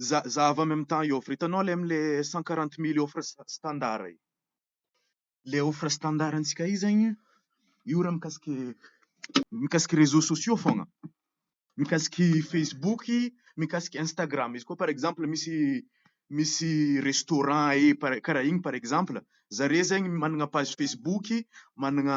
Za za avy any amin'ny tany offre, hitanao ilay amin'ny cent quarante mille offre standard iny, ilay offre standard antsika io zany an, io raha mikasika mikasika réseaux sociaux foana, mikasika facebook, mikasika instagram, izy koa par exemple misy misy restaurant ee par- karaha iny par exemple, zareo zany manana page facebook, manana.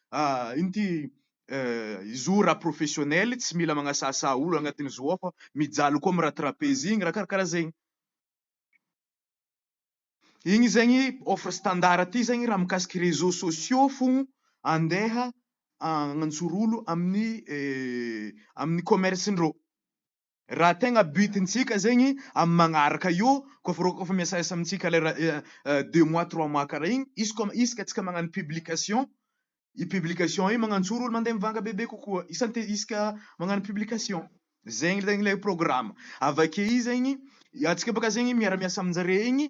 ino ty izo ra professionnel tsy mila magnasahasaha olo agnatiny zo ao fa mijaly koa am ra trapeze igny ra karakara zegny igny zegny offre standard ty zegny ra mikasiky reseau sociaux fogno andeha agnantsoro olo aminy aminy commerce ndreo Raha tegna but ntsika zegny am magnaraka io koa fa koa fa miasaasa amintsika lera deux mois trois mois karaha igny izy koa isaka tsika magnano publication i publication i magnantsoro olo mande mivanga bebe kokoa isan te isaka magnano publication zegny zegny le programme avake i zegny atsika baka zegny miara miasa aminjare igny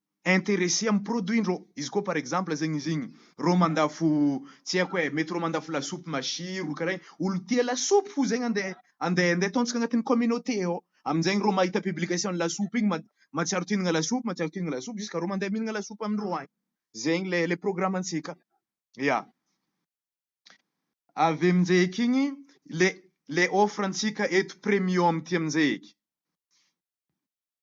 interesse am produit ndrô, izy koa par exemple zegny izy igny rô mandafo tsy haiko e, mety rô mandafo lasopy masiro karaha igny, olo tia lasopy fo zegny ande ande ande ataontsika agnatin'ny communauté ao, aminjegny rô mahita publication ny lasopy igny ma matsiaro ty hihinagna lasopy matsiaro ty hihinagna lasopy jusqu'à rô mande mihinagna lasopy amindrô agny, zegny le le programme antsika, ya. Avy aminjey eky igny le le offre antsika eto premium ty aminjey eky.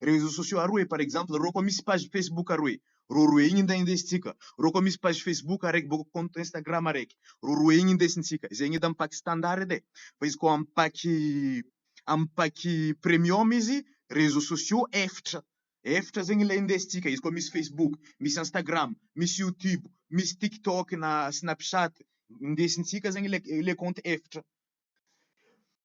Réseaux sociaux ary hoe par exemple rô koa misy page Facebook ary hoe rô roe igny ndray indesintsika, rô koa misy page Facebook araiky bôka compte Instagram araiky, rô roe igny indesintsika, izay gn'edy am'pack standard edy e, fa izy koa am'pack am'pack premium izy réseaux sociaux efatra, efatra zegny le indesintsika, izy koa misy Facebook, misy Instagram, misy YouTube, misy TikTok na Snapchat, indesintsika zegny le le compte efatra.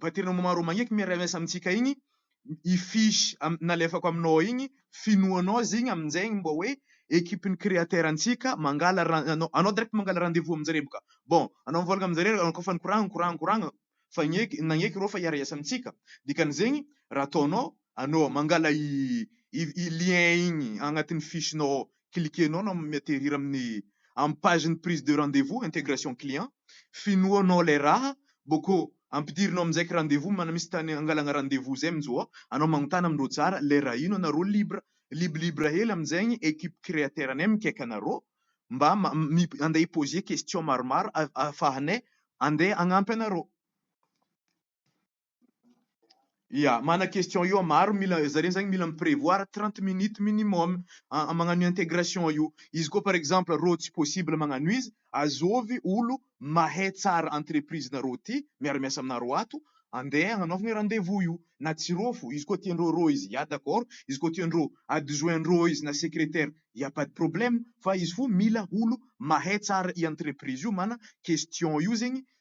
Paternum maro magneky miara miasa amintsika igny i fiche nalefako aminao igny finoanao izy igny aminjay igny mba hoe equipe ny créateur antsika mangala raha anao direct mangala rendez vous aminjareo boka bon anao mivôlagna aminjareo anao koa fa nikoragna nikoragna nikoragna fa agneky nagneky reo fa hiara hiasa amintsika dikan'izegny raha ataonao anao mangala i lien igny agnatin'ny fiche nao cliquer-nao na mi-atterrir amin'ny amin'ny page ny prise de rendez-vous, intégration client, finoanao ilay raha, boko ampidirinao amin'injaiky rendez-vous mana misy tany angalagna rendez-vous zay mintsy vao anao magnontana amindreo tsara ilay raha ino anareo libre lib libre hely amin'izay ny equipe createur anay mikaiky anareo mba ma mi andeha hi-poser question maromaro a afahanay andeha hagnampy anareo. Ya, mana question io an, maro mila zareo zany mila mi-prevoir trente minutes minimum a magnano io intégration io, izy koa par exemple rô tsy possible magnano izy azôvy olo mahay tsara entreprise-narô ty miara miasa aminarô ato andeha agnanaovagna rendez-vous io na tsy rô fô izy koa tiandreo rô izy ya d'accord izy koa tiandreo adjoint-ndrô izy na secrétaire ya pas de problème fa izy fô mila olo mahay tsara i entreprise io mana question io zegny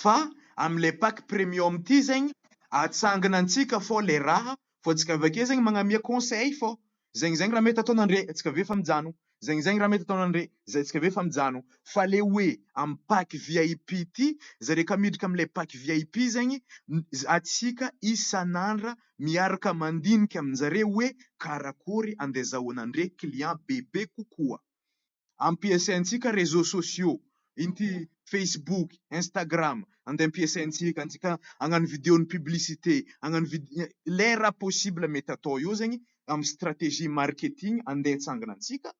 fa am le pack premium ity zegny atsangana antsika fô le raha fô tsika avake zegny magnamia conseil fô zegny zegny raha mety ataonandre tsika aveo efa mijano zegny zegny raha mety ataonandre zay tsika aveo efa mijano fa le hoe am pack vip ty zare ka miditra am le pack vip zegny atsika isanandra miaraka mandinika aminjare hoe karakory andezahoanandre client bebe kokoa. ampiasaintsika réseaux sociaux, ity facebook, instagram, andeha ampiasaintsika antsika hagnano vidéo ny publicité, hagnano vidéo, le raha possible mety atao eo zegny amin'ny stratégie marketing andeha hitsangana antsika,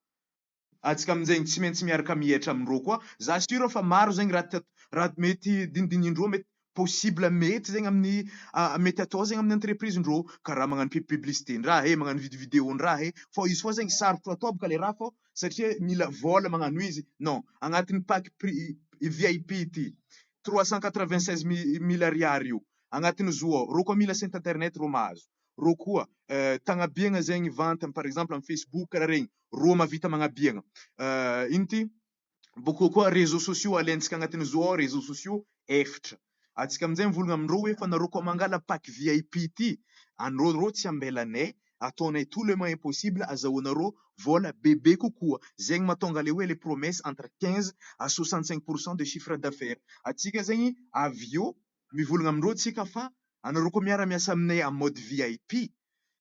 antsika amin'izay tsy maintsy miaraka mihetra amin-dreo koa, za sûr fa maro zegny raha mety dinidinin'reo mety possible mety zegny amin'ny mety atao zegny amin'ny entreprise ndrô karaha magnano pu- publicité ndraha e, magnano vid- video ndraha e, fô izy koa zegny sarotro atao bôka le raha fô satria mila vôla magnano izy, non, agnatin'ny pack pri- VIP ity trois cent quatre vingt seize mi- mille ariary io, agnatin'ny zo ao, rô koa mila site internet rô mahazo, rô koa tagnabiagna zegny vente par exemple amin'ny facebook karaha regny rô mahavita magnabiagna ino ty boky kokoa réseaux sociaux alentsika agnatin'ny zo ao réseaux sociaux efitra atsika amin'izay mivolagna amin-drô hoe fa narô koa mangala pack vip ty anrô rô tsy ambelanay ataonay tout le main possible azahoanarô vôla bebe kokoa zegny mahatonga le hoe le promesse entre quinze à soixante cinq pour cent de chiffre d'affaires atsika zegny avy eo mivolagna amin-drô tsika fa anarô koa miara-miasa aminay en mode vip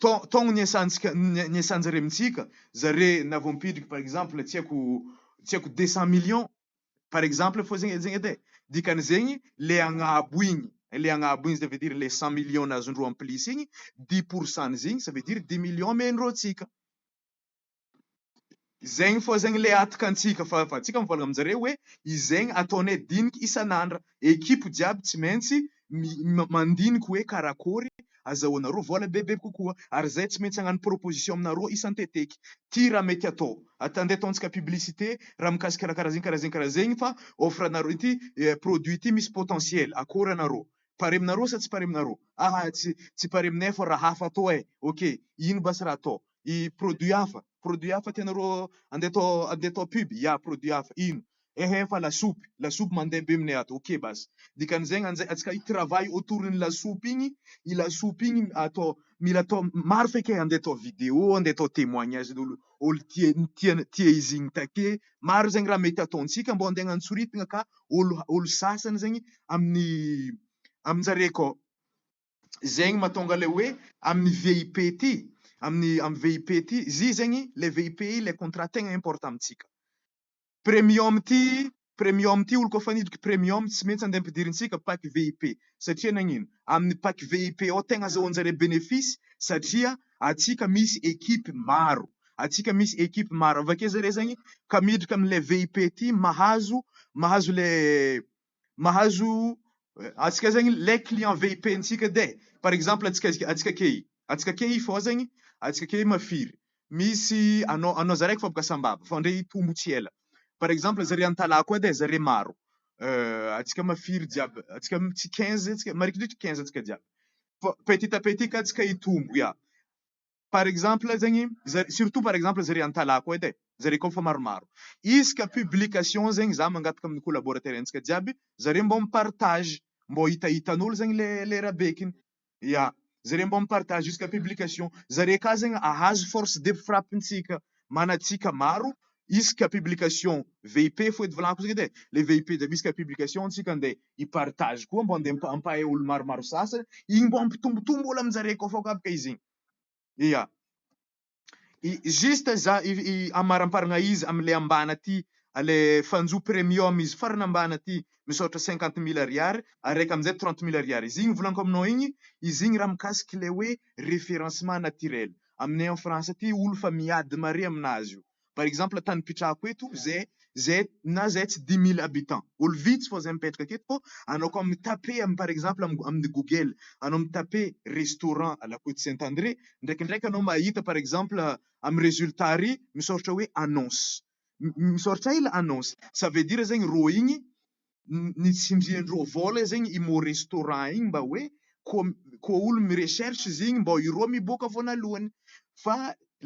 taogno niesantsika niesanjare mitsika zare na vao mipidriky par exemple tsy haiko tsy haiko deux cent millions par exemple fô zegny zegny edy e dikan'izegny le agnabo igny le agnabo igny ça veut dire le cent millions nazon-dreo en plus igny dix pourcent-ny zegny ça veut dire dix millions omen'ireo antsika. Zegny fô zegny le ataka antsika fa fa antsika mivôlagna aminjareo hoe izegny ataonay diniky isan'andra, ekipo jiaby tsy maintsy mi- mandiniky hoe karakôry azahoanarô vôla bebe kokoa ary zay tsy maintsy agnano proposition aminarô isan-teteky, ty raha mety atô, at- ande ataontsika publicité raha mikasika raha karaha zegny karaha zegny karaha zegny fa offre anarô ity produit ity misy potentiel akôry anarô, pare aminarô sa tsy pare aminarô, aha tsy pare aminay fô raha hafa atô ai, ok ino basy raha atô, i produit hafa, produit hafa tianareo andeha atao andeha atao pub, ya produit hafa, ino? ehe fa lasopy, lasopy mandeha be minay ato, ok basy, dikan'izay nga njay antsika hi travail autour ny lasopy igny, i lasopy igny atao mila atao maro feky e, andeha atao video, andeha atao temoignage n'olo olo tia tia tia izy igny take, maro zegny raha mety ataontsika mbô andeha agnantsoritigna ka olo olo sasany zegny amin'ny amin-jare akao. zegny matonga le hoe amin'ny VIP ity amin'ny am VIP ity zy zegny le VIP le contrat tegna importe amintsika premium ity premium ity olo koa fa nidiko premium tsy maintsy andeha ampidirintsika pack VIP satria nagnino amin'ny pack VIP ao tegna azahoanjare benefisy satria atsika misy ekipe maro atsika misy ekipe maro avake zare zegny ka miditra amle VIP ity mahazo mahazo le mahazo atsika zegny le client vip ntsika de par exemple atsika atsika key atsika key fô zegny atsika key mafiry misy anao anao za raiky fa boka sambava fa ndre hitombo tsy ela par exemple zare antalaha koa de zare maro atsika mafiry jiaby atsika mitsy quinze atsika marikidrikitry quinze atsika jiaby fô petit à petit ka atsika hitombo ya. par exemple zegny zare surtout par exemple zare antalako edy e, zare koa fa maromaro izy ka publication zegny za mangataka amin'ny collaborateur antsika jiaby zare mbô mi-partage mbô hitahitan'olo zegny le le rabekiny, ya zare mbô mi-partage jusqu'à publication zare ka zegny ahazo force de frappe ntsika mana antsika maro isaka publication VIP fô edy volako zay edy e, le VIP jiaby isaka publication ntsika nde hi-partage koa mbô nde ampahay olo maromaro sasany igny mbô hampitombotombo olo amin-jare koa fô ka baka izy igny. Ia. I juste za i i amaramparagna izy amle ambany aty le fanjo premium izy farany ambany aty misy ohatra cinquante mille ariary araiky amzay trente mille ariary izy igny volanko aminao igny izy igny raha mikasiky le hoe référencement naturel aminay en France aty olo fa miady mare aminazy io. par exemple tany ipetrahako eto zay zay na zay tsy dimy mille habitants olo vitsy fô zay mipetraka aketo fô anao koa mi taper am par exemple amin'ny google anao mi taper restaurant à la côte saint André ndraikindraiky anao mahita par exemple am résultat ary misaoritra hoe annonce misaoritra ila annonce ça veut dire zegny rô igny ny tsindriany roa vola zegny i mot restaurant igny mba hoe ko ko olo mi recherche izy igny mbô i roa miboaka voanalohany fa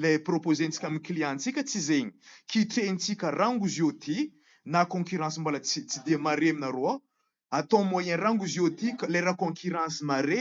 le propozentsika amy clientsika tsy zegny kitrehintsika rango izy io ty na concurrence mbola tsy tsy de mare aminareo ao atao moyen rango izy io ty lera concurrence mare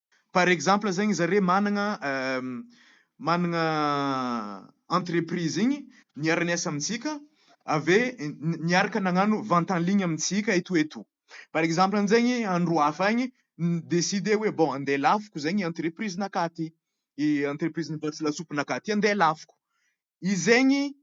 Par exemple zegny zare managna managna entreprise igny niara niasa amintsika ave niaraka nagnano vente en ligne amintsika eto eto par exemple aminjegny andro hafa agny ni decider hoe bon ande alafiko zegny entreprise nakaty i entreprise mivarotra lasopy nakaty ande alafiko izegny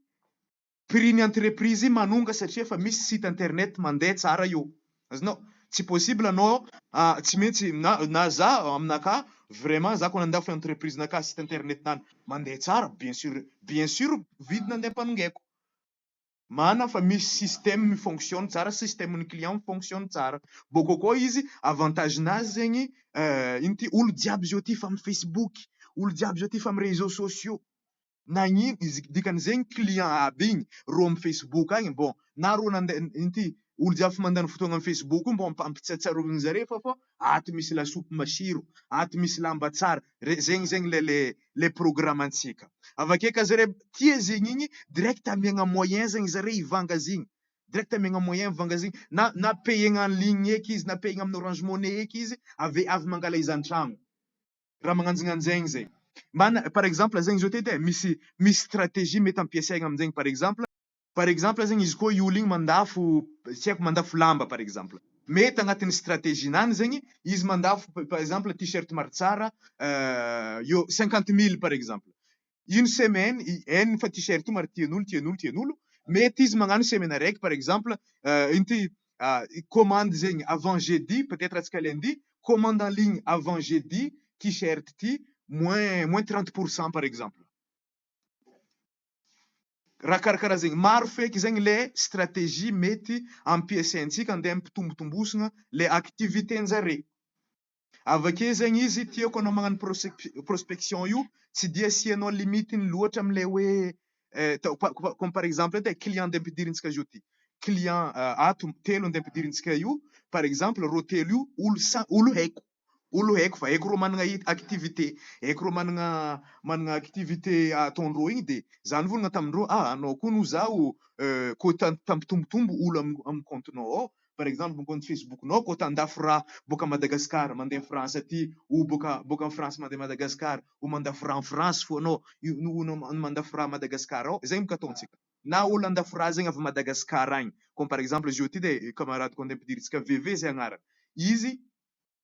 Prix ny entreprise io manonga satria efa misy site internet mandeha tsara io. Azonao? Tsy possible anao ah tsy maintsy na na za aminakahy vraiment za ko nandafy entreprise nakahy site internet nany mandeha tsara bien sur bien sur vidina andeha ampanongaiko. Marina fa misy système mi-fonctionne tsara système ny client mi-fonctionne tsara. Bôkô koa izy avantage nazy zegny eh ino ty olo jiaby zao tia fa am facebook olo jiaby zao tia fa am réseaux sociaux. nagnino izy dikany zegny client aby igny rô am facebook agny bon na rô nande ity olo jiaby fa mandany fotoagna am facebook io mbô ampiampatsiatsiarovigny zare fa fô ato misy lasopy masiro ato misy lamba tsara re zegny zegny le le le programme antsika avake ka zare tia zegny igny direct amiagna moyen zegny zare ivanga zigny direct amiagna moyen ivanga zigny na na payegna en ligne eky izy na payegna am orange money eky izy avy avy mangala izy antragno. raha magnanjignainjegny zegny. Mbana par exemple zegny zao teto e, misy misy stratégie mety ampiasaigna aminjegny par exemple, par exemple zegny izy koa i olo igny mandafo tsy haiko mandafo lamba par exemple, mety agnatin'ny stratégie-nany zegny izy mandafo par exemple tee-shirt maro tsara eo cinquante mille par exemple, une semaine i en fa t-shirt maro tian'olo tian'olo tian'olo mety izy magnano semaine araiky par exemple inty commande zegny avant jeudi peut être atsika lundi commande en ligne avant jeudi t-shirt ty moins moins trente pour cent par exemple raha karakaraha zegny maro feky zegny le stratégie mety ampiasaintsika andeha ampitombotombosina le activité njare Avake zegny izy tiako anao magnano prospe- prospection io tsy dia asianao limite-ny loatra amin'ilay hoe atao pa- pa- comme par exemple eto e, client ndeha ampidirintsika zao ty, client ato telo ndeha ampidirintsika io, par exemple reo telo io olo sa- olo haiko, olo haiko fa haiko reo managna i- activité, haiko reo managna managna activité ataondreo igny de za nivolagna tamindreo ah anao koa no zaho ko ta- ta- tampitombotombo olo am- am compte-nao ao par exemple ny compte Facebook nao ko tandafy rà boaka Madagascar mandeha France aty ou boaka boaka France mandeha Madagascar ou mandafy rà France fo anao io no no no mandafy rà Madagascar ao zay mo ka ataontsika na olo andafy rà zegny avy Madagascar agny comme par exemple izy io ty de camarade ko andeha ampidirintsika VV zay agnarany izy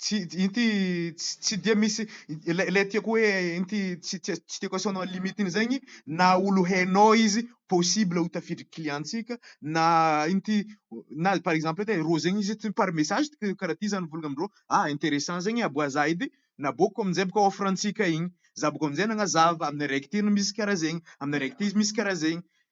Tsy inty tsy tsy dia misy ilay ilay tiako hoe inty tsy tsy tsy tiako asaonao limite iny zegny na olo hainao izy possible ho tafiditry client-tsika na inty na par exemple edy e rô zegny izy tsy par message ty karaha ty zany volagna amindrô ah interessant zegny e aboaha za edy naboako amizay boka offre antsika igny za boka amizay nagnazava aminy araiky ty no misy karaha zegny aminy araiky ty izy misy karaha zegny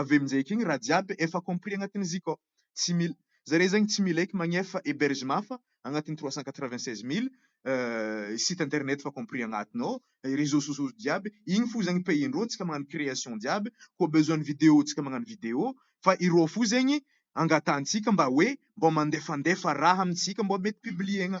avy amin'izay eky igny raha jiaby efa compris agnatin'ny zic ao, tsy mila zare zegny tsy mila eky magnefa hebergement fa agnatin'ny trois cent quatre vingt seize mille site internet efa compris agnatiny ao, reseaux sociaux jiaby, igny fo zegny pays-ndreo, tsika magnano création jiaby, koa besoin ny vidéo tsika magnano vidéo, fa ireo fo zegny angatahantsika mba hoe mbô mandefandefa raha amintsika mbô mety publier-na.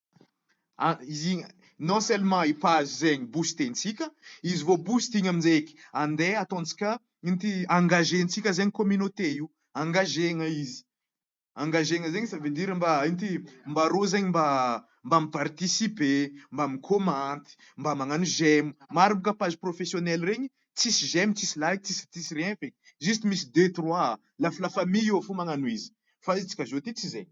non seulement i page zegny boostentsika, izy vao boost igny aminjaiky andeha ataontsika ino ty engagentsika zegny communauté io, engagena izy, engagena zegny ça veut dire mba ino ty mba rô zegny mba mba mi participer, mba mi commenter, mba magnano j'aime, maro boka page professionnel regny tsisy j'aime, tsisy like, tsisy tsisy rien feky, juste misy deux trois la la famille eo fô magnano izy, fa izy tsika zao ty tsy zegny.